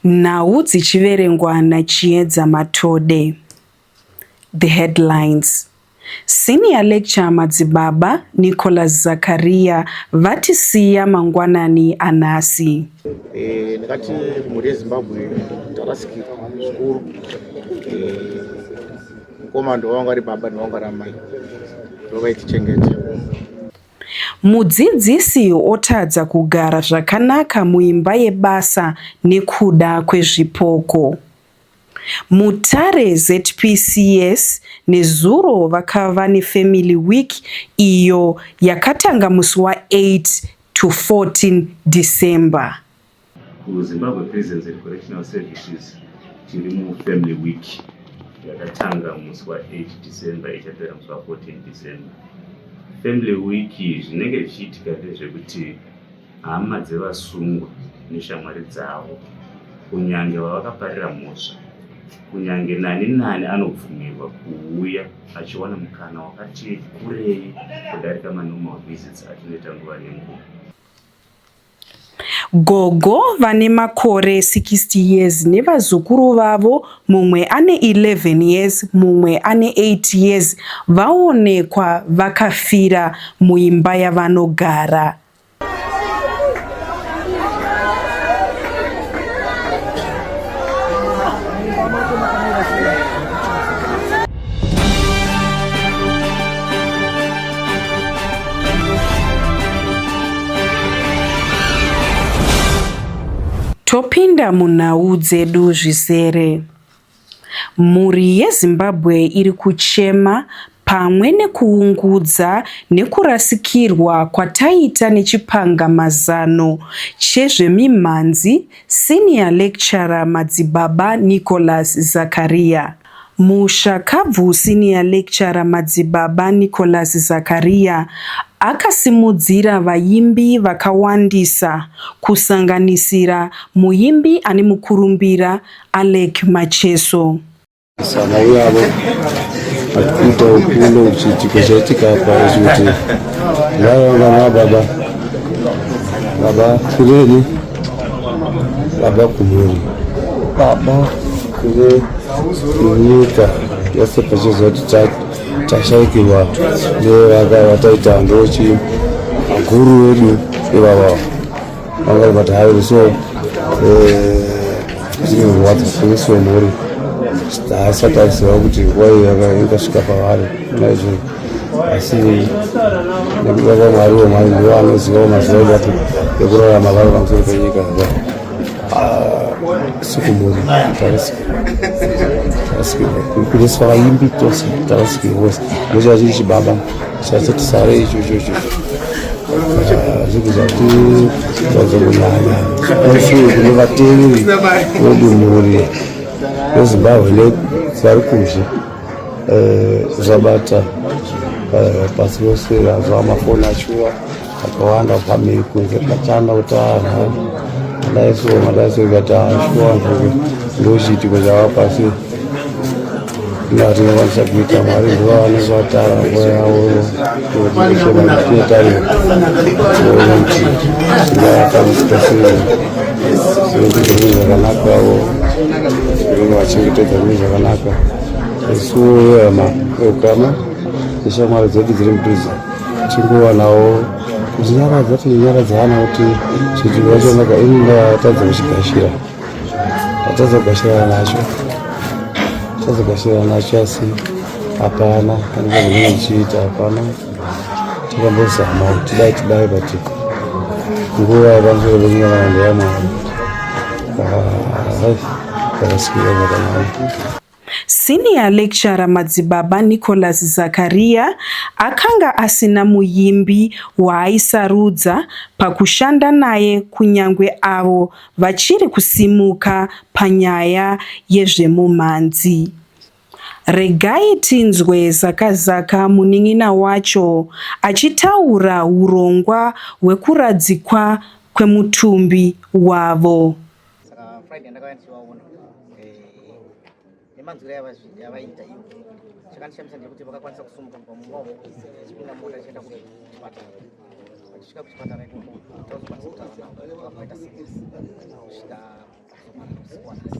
Nhau dzichiverengwa naChiedza Matode. The headlines. Senior lecturer Madzibaba Nicholas Zakaria vatisiya mangwanani anhasi. Eh, ndakati mhuri yezimbabwe tarasikirwa zvikuru eh, mukomana ndovanga ari baba ndovanga ari amai ndovaitichengeto Mudzidzisi otadza kugara zvakanaka muimba yebasa nekuda kwezvipoko. Mutare ZPCS nezuro vakava neFamily Week iyo yakatanga musi wa 8 to 14 December. KuZimbabwe Prisons and Correctional Services tiri muFamily Week yakatanga musi wa 8 December ichapera musi wa 14 December. Family Week zvinenge zvichiitika ndezvekuti hama dzevasungwa neshamwari dzavo kunyange vavakaparira mhosva kunyange nani nani anobvumirwa kuuya achiwana mukana wakati kurei kudarika manormal visits atinoita nguva nenguva Gogo vane makore 60 years nevazukuru vavo mumwe ane 11 years mumwe ane 8 years vaonekwa vakafira muimba yavanogara. topinda munhau dzedu zvizere. Mhuri yeZimbabwe iri kuchema pamwe nekuungudza nekurasikirwa kwataita nechipangamazano chezvemimhanzi Senior Lecturer Madzibaba Nicholas Zakariya. Mushakabvu Senior Lecturer Madzibaba Nicholas Zakariya akasimudzira vaimbi vakawandisa kusanganisira muimbi ane mukurumbira Alec Macheso. Saka uyavo atikuita ukuno kuchiitiko chaitika apa kuti vaivanga na baba baba kureni baba kumhuri baba kune nyika yese pachizoti tashaikirwa nevaka vataita ndochi guru wedu ivavavo Vangari vati hayi so zvinorwadza kunesu vemhuri haasati aziva kuti nguva iyo yakasvika pavari naizvozvo asi nekuda kwamwari wemwari ndivo anozivawo mazuva evapo ekurarama vari pamusoro penyika aa ah, sikumhuri tarasika tarasika kuneswa vaimbi tose tarasika vose ndochava chiri chibaba Sasa tisare icho icho icho. Ah, zvinhu zvati zvazongonaya asi kune vateereri vodunhuri rezimbabwe ne vari kuzhe eh, zvabata eh, pasi rose razva mafoni achiwa Akawanda family kunze kachanda kuti anhu madaiso madaiso ikati ashuwa nzvimbo ndochiitiko zvava pasi ndatinovakisa kuita mwari ndivo vanenge vatara nguva yavo kuetarira ooti ndaakamutosiri sekuti zvinhu zvakanaka avo zvinenge vachengetedza zvinhu zvakanaka isu vehama veukama neshamwari dzedu dziri mudhuze tichingovanawo kuzinyaradza tinonyaradzana kuti chidziro chonaka ini ndatadza kuchigashira ndatadza kugashirana nacho ndatadza kugashirana nacho asi hapana andikazomene ndichiita hapana takambozama kuti dai tidai but nguva yapamusoro pekunyarana ndeyamwana ah, ndakasikira zvakanaka Senior Lecturer Madzibaba Nicholas Zakaria akanga asina muimbi waaisarudza pakushanda naye kunyangwe avo vachiri kusimuka panyaya yezvemumhanzi. Regai tinzwe Zakazaka munin'ina wacho achitaura hurongwa hwekuradzikwa kwemutumbi wavo. saka friday ndakauya ndichivaona eh, nemanzwiro yavaiita iyo chakandishamisa ndekuti vakakwanisa kusumuka kubva mumba umo chipinda mota chienda kuchipatara vachisvika kuchipatara ikoko tauzokwanisa kutaura navo vakaita kusvika kuzomanosiwanasi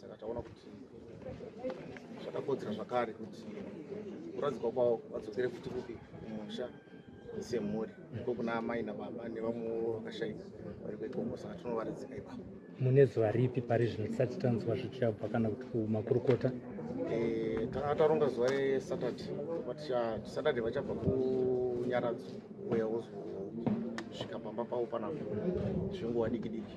saka taona kuti zvakakodzera zvakare kuti kuradzikwa kwavo vadzokere futi kupi kumusha semhuri ko kuna amai nababa nevamwewo vakashaika vari kwekongo saka tinovaradzika ipapo mune zuva ripi pari zvino tisati tanzwa zvichabva kana kuti kumakurukota eh, tanga taronga zuva resaturday but saturday vachabva kunyaradzo uya wozosvika pamba pavo panapo zvinguva diki diki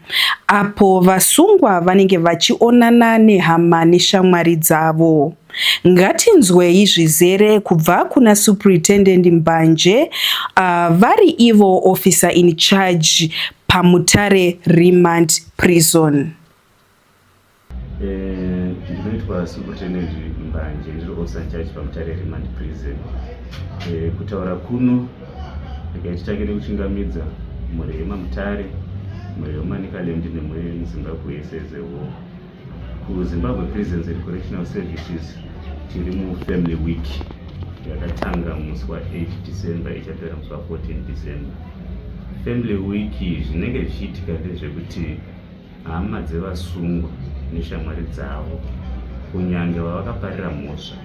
apo vasungwa vanenge vachionana nehama neshamwari dzavo. Ngatinzwei zvizere kubva kuna Superintendent Mbanje uh, vari ivo officer in charge paMutare Remand Prison. Eh, ndinoitwa superintendent mbanje ndiri officer charge pamutare remand prison eh, kutaura kuno ndikaititange nekuchingamidza mhuri yemamutare mhuri yemanicaland nemhuri yemuzimbabwe yese as a whole kuzimbabwe prisons and correctional services tiri mufamily week yakatanga musi wa8 december ichapera musi wa14 december family week zvinenge zvichiitika ndezvekuti Hama dzevasungwa neshamwari dzavo, kunyange vavakaparira mhosva,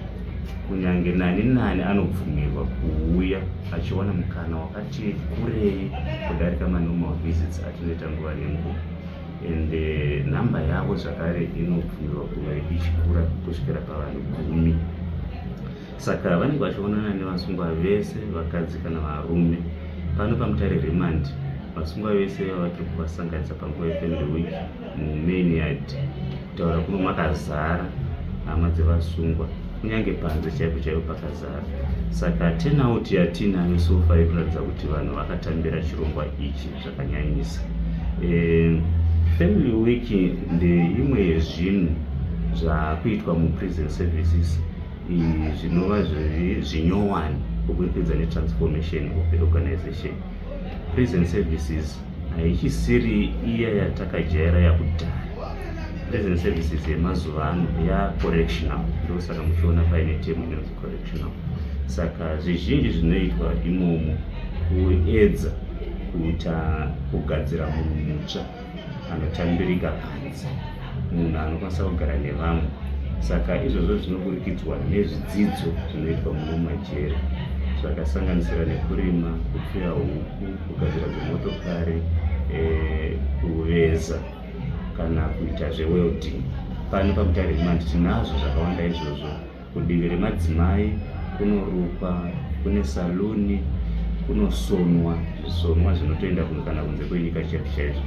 kunyange nani nani anobvumirwa kuuya achiwana mukana wakati kurei kudarika manormal visits atinoita nguva nenguva and eh, nhamba yavo zvakare inobvumirwa kuve ichikura kusvikira pavanhu gumi Saka vanenge vachionana nevasungwa vese vakadzi kana varume. Pano paMutare Remand, vasungwa vese vava tiri kuvasanganisa panguva yeFamily Week mumain yard kutaura kuno makazara hama dzevasungwa kunyange panze chaipo chaipo pakazara saka tenauti yatiinayo sofa ikuratidza kuti vanhu vakatambira chirongwa ichi zvakanyanyisa e, family week ndeimwe yezvinhu zvakuitwa muprison services zvinova zvinyowani kuburikidza netransformation of the organization prison services haichisiri iya yatakajaira yakudhara prison services yemazuva ano yacorrectional ndosaka muchiona paine temu inonzi correctional saka zvizhinji zvinoitwa imomo kuedza kuita kugadzira munhu mutsva anotambirika panze munhu anokwanisa kugara nevamwe saka izvozvo zvinoburikidzwa nezvidzidzo zvinoitwa muno majeri zvakasanganisira nekurima kupfuya huku kugadzira dzemotokari eh, kuveza kana kuita zvewelding pano pamutare himandi tinazvo zvakawanda izvozvo Kudivi remadzimai kunorukwa, kune saluni, kunosonwa zvisonwa zvinotoenda kunge kana kunze kwenyika chete chaizvo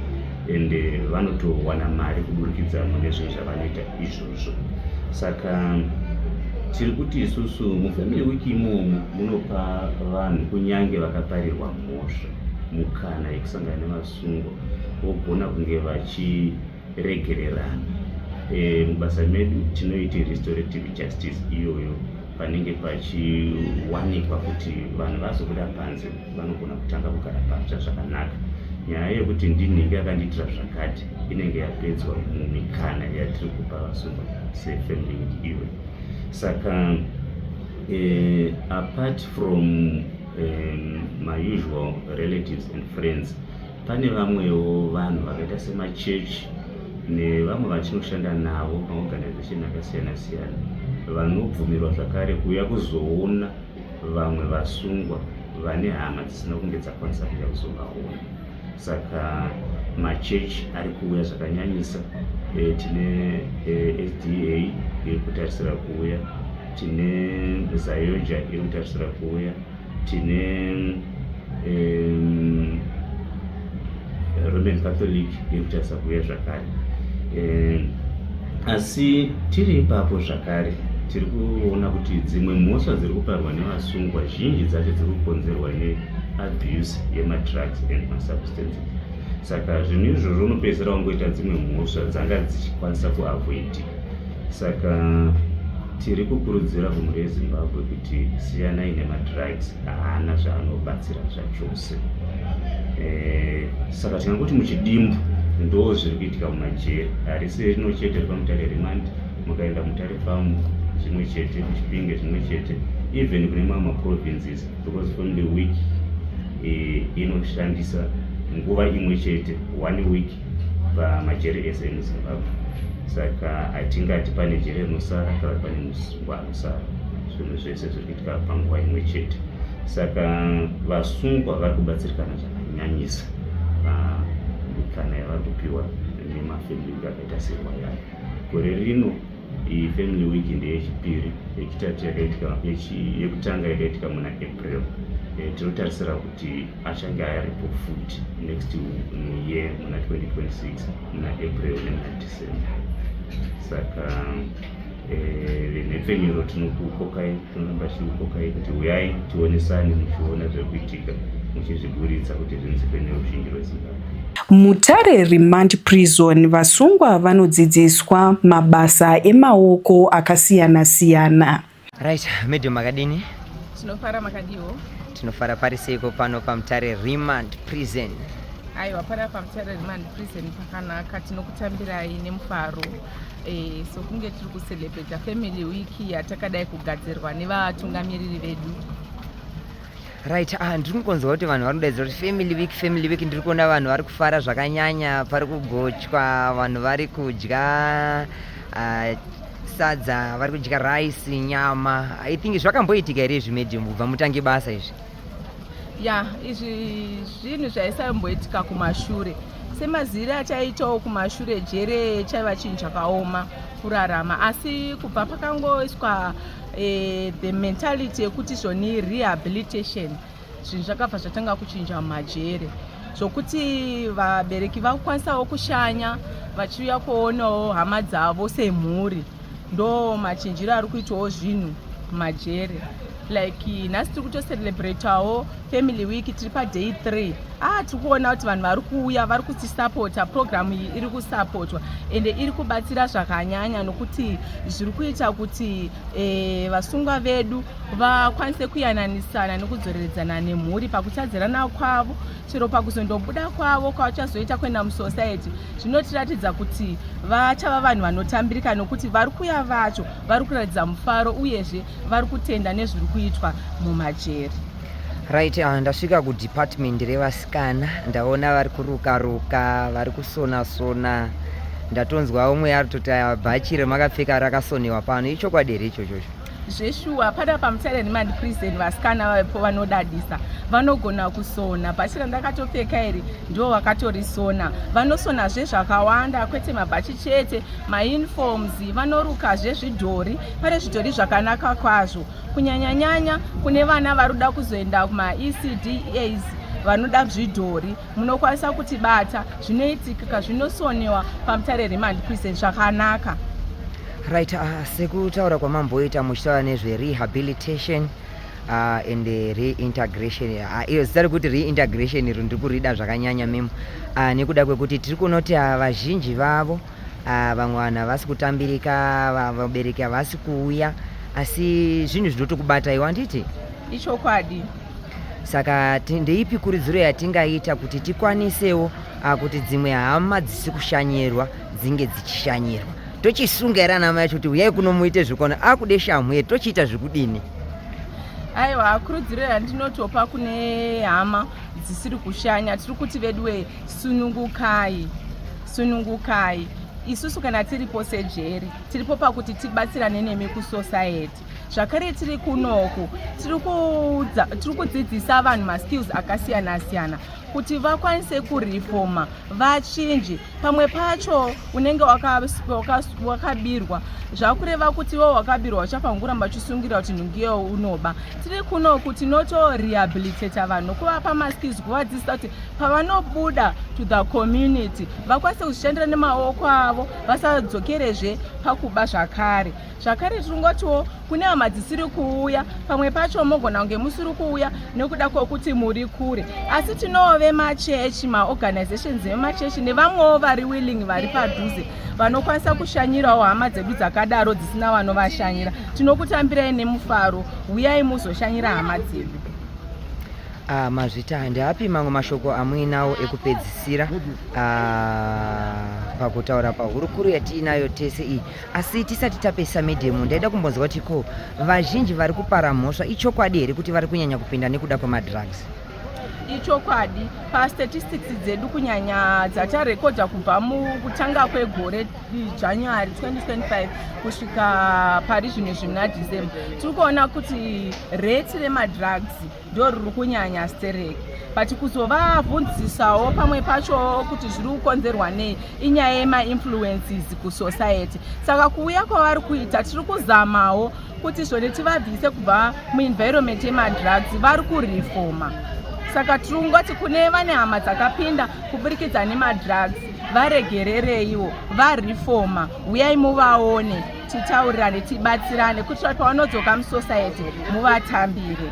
and eh, vanotowana mari kuburikidza mune zvinhu zvavanoita izvozvo saka tiri kuti isusu mufamily week imomo munopa vanhu kunyange vakaparirwa mhosva mukana yekusangana nevasungo vogona kunge vachi regererana e, mubasa medu tinoita restorative justice iyoyo panenge pachiwanikwa kuti vanhu vazobuda panze vanogona kutanga kugara patsva zvakanaka nyaya yekuti ndinhingi akandiitira zvakati inenge yapedzwa mumikana yatiri kupa vasungwa sefamily iwe saka uh, apart from um, my usual relatives and friends Pane vamwewo vanhu vakaita semachechi nevamwe vatinoshanda navo maorganization akasiyana siyana vanobvumirwa zvakare kuuya kuzoona vamwe vasungwa vane hama dzisina kunge dzakwanisa kuuya kuzovaona saka machechi ari kuuya zvakanyanyisa e, tine e, eh, sda iri kutarisira kuuya tine zayoja iri kutarisira kuuya tine um, roman catholic iri kutarisa kuuya zvakare um, asi tiri ipapo zvakare tiri kuona kuti dzimwe mhosva dziri kuparwa nevasungwa zhinji dzacho dziri kukonzerwa neabuse yemadrugs and masubstances saka zvinhu izvozvo unopedzisira wangoita dzimwe mhosva dzanga dzichikwanisa kuavoidi saka Tiri kukurudzira mhuri yeZimbabwe kuti siyanai nemadrugs haana zvaanobatsira zvachose. E, saka tingangokuti muchidimbu ndo zviri kuitika mumajeri harisi rino chete ripamutare remandi mukaenda mutare famu zvimwe chete kuchipinge zvimwe chete even kune mamwe maprovinces because from the week e, inoshandisa nguva imwe chete one week pamajeri ese emuzimbabwe saka hatingati pane jeri rinosara kana pane musungwa anosara zvinhu zvese zviri kuitika panguva imwe chete saka vasungwa vari kubatsirikana zvakanyanyisa kana yavari kupiwa nemafamili akaita serwa yayo gore rino iyi family week ndeyechipiri yechitatu yakaitika yekutanga yakaitika muna april eh, tinotarisira kuti achange ayaripo futi next year muna 2026 muna april nemuna december saka eh, venhepfenyuro tinokukokai Tinoimba chikukokai kuti huyai tionesane muchiona zviri kuitika muchizviburitsa kuti zvinzike neruzhinji rwezimbabwe Mutare Remand Prison vasungwa vanodzidziswa mabasa emaoko akasiyana siyana. Right, medium makadini? Tinofara makadiwo. Tinofara pari seiko pano paMutare Remand Prison? Aiwa, pari paMutare Remand Prison pakanaka, tinokutambirai nemufaro. Eh, sokunge tiri kucelebrata family week yatakadai kugadzirwa nevatungamiriri vedu right ah, ndiri kungonzwa kuti vanhu vanodaidza kuti family week family week ndiri kuona vanhu vari kufara zvakanyanya pari kugochwa vanhu vari kudya uh, sadza vari kudya rice nyama i think zvakamboitika here izvi medium kubva mutange basa izvi ya izvi zvinhu zvaisamboitika kumashure semaziri achaitawo kumashure jere chaiva chinhu chakaoma kurarama asi kubva pakangoiswa e, the mentality yekuti zvoni rehabilitation zvinhu zvakabva zvatanga kuchinja mumajere zvokuti vabereki vakukwanisawo kushanya vachiuya kuonawo hama dzavo semhuri ndo machinjiro ari kuitwawo zvinhu majeri like nhasi tiri kutocelebratawo family week tiri paday three ah tiri kuona kuti vanhu vari kuuya vari kutisapota programu iyi iri kusapotwa ende iri kubatsira zvakanyanya nokuti zviri kuita kuti eh, vasungwa vedu vakwanise kuyananisana nekudzoreredzana nemhuri pakutadzirana kwavo chero pakuzondobuda kwavo kwavachazoita kuenda musociety zvinotiratidza kuti vachava vanhu vanotambirika nokuti vari kuya vacho vari kuratidza mufaro uyezve vari kutenda nezviri kuitwa mumajeri right uh, ndasvika kudepartment revasikana ndaona vari kuruka ruka vari kusona sona ndatonzwa umwe ari toti bhachi remakapfeka rakasonewa pano ichokwadi here ichochocho zveshuwa pada pamutsare remand prison vasikana vavepo vanodadisa vanogona kusona bhachi randakatopfeka iri ndivo vakatorisona vanosona zvezvakawanda kwete mabhachi chete mauniforms vanoruka zvezvidhori pane zvidhori zvakanaka kwazvo kunyanyanyanya kune vana vari kuda kuzoenda kumaecdas vanoda zvidhori munokwanisa kutibata zvinoitikika zvinosonewa pamutare remand prison zvakanaka right uh, sekutaura kwamamboita muchitaura nezverehabilitation uh, and uh, reintegration uh, iyo zita rekuti reintegration iro ndiri kurida zvakanyanya memo uh, nekuda kwekuti tiri kunoti uh, vazhinji vavo uh, vamwe vanhu havasi kutambirika vabereki havasi kuuya asi zvinhu zvinotokubataiwa handiti ichokwadi saka ndeipi kuridziro yatingaita kuti tikwanisewo ah, kuti dzimwe hama dzisi kushanyirwa dzinge dzichishanyirwa tochisunga here anamai acho kuti uyai kuno muite zvekuona akude ah, shamhu ye tochiita zvekudini aiwa kurudziro yandinotopa kune hama dzisiri kushanya tiri kuti veduwe sunungukai sunungukai isusu kana tiripo sejeri tiripo pakuti tibatsirane nemi kusociety zvakare tiri kunoku tiri kudzidzisa vanhu maskills akasiyana siyana kuti vakwanise kurifoma vachinji pamwe pacho unenge wakabirwa zvakureva kuti wo wakabirwa uchafanguramba uchisungira kuti nhungiyo unoba tiri kunoku tinotorehabilitata vanhu kuvapa maskills kuvadzidzisa kuti pavanobuda to the community vakwanise kuzvishandira nemaoko avo vasadzokerezve pakuba zvakare zvakare tiri ngotiwo kune hama dzisiri kuuya pamwe pacho mogona kunge musiri kuuya nekuda kwokuti muri kure asi tinowo vemachechi maorganizations vemachechi nevamwewo vari willing vari padhuze vanokwanisa kushanyirawo hama dzedu dzakadaro dzisina vanovashanyira tinokutambirai nemufaro huyai muzoshanyira hama dzedu Uh, mazvita handiapi mamwe mashoko amuinawo ekupedzisira uh, pakutaura pahurukuru yatiinayo tese iyi asi tisati tapesa medhemu ndaida kumbonzwa kuti ko vazhinji vari kupara mhosva ichokwadi here kuti vari kunyanya kupinda nekuda kwemadrugs ichokwadi pastatistics dzedu kunyanya dzatarekodha kubva mukutanga kwegore january 2025 kusvika pari zvino zvimuna december tiri kuona kuti rate remadrugs ndo riri kunyanya stereki but kuzovabvunzisawo pamwe pacho kuti zviri kukonzerwa nei inyaya yemainfluences kusociety saka kuuya kwavari kuita tiri kuzamawo kuti zvone tivabvise kubva muenvironment yemadrugs vari kurefoma saka tiri kungoti kune vane hama dzakapinda kuburikidza nemadrugs varegerereiwo varefoma uyai muvaone titaurirane tibatsirane kuitira pavanodzoka musociety muvatambire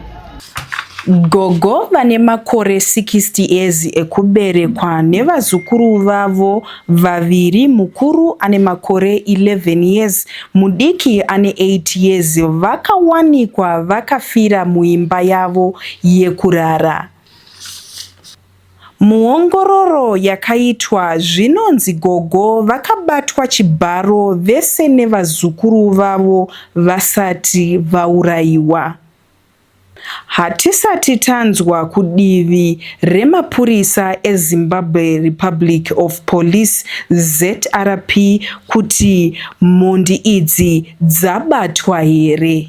gogo vane makore 60 years ekuberekwa nevazukuru vavo vaviri mukuru ane makore 11 years mudiki ane 8 years vakawanikwa vakafira muimba yavo yekurara Muongororo yakaitwa, zvinonzi gogo vakabatwa chibharo vese nevazukuru vavo vasati vaurayiwa. Hatisati tanzwa kudivi remapurisa eZimbabwe Republic of Police, zrp, kuti mhondi idzi dzabatwa here.